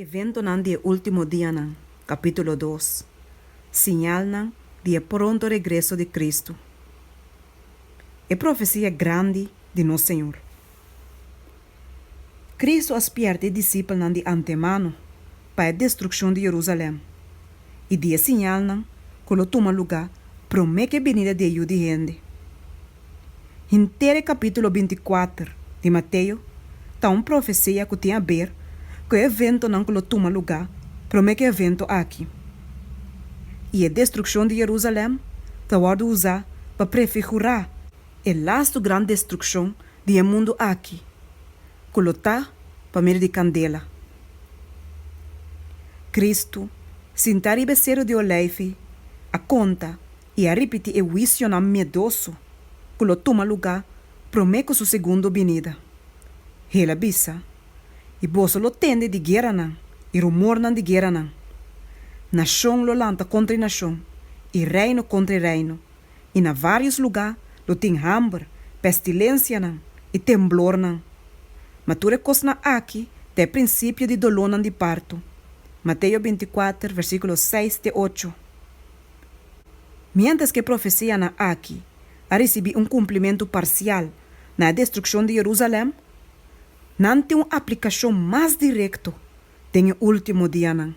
Eventonan di e último dianan, Capítulo dos, Siñalnan di e pronto regreso di Cristo E profecia grandi di nos Señor Cristo a spièrta e disipelnan di antemano pa e destruccion di Jerusalem. i di e siñalnan ku lo tuma lugá promé ku e binida di e Yu di hende. Henter e kapítulo bintikuater di Mateo ta un profesia ku tin aber ku e eventonan ku lo tuma lugá promé ku e evento aki. I e destrukshon di Yerusalèm ta wòrdu usá pa prefigurá e lastu gran destrukshon di e mundu aki, Ku lo ta pa medio di kandela. Kristu, sintá riba e seru di oleifi, a konta i a ripití e huisionan miedoso ku lo tuma lugá promé ku su segundo binida. Hel a bisa, I boso lo tende di gueranan i rumornan di gueranan. Nashon lo lanta kontra e nashon i reino kontra e reino, i na vários lugá lo tin hamber, pestilensianan i temblornan. Ma tur e kosnan akí ta e prinsipio di dolónan di parto. Mateo binti kuater, versíkulo seis te ocho. Miéntras ku e profesianan akí a risibí un kumplimentu parsial na e destrukshon di Jerusalèm, nan tin un aplikashon mas direkto den e último dianan.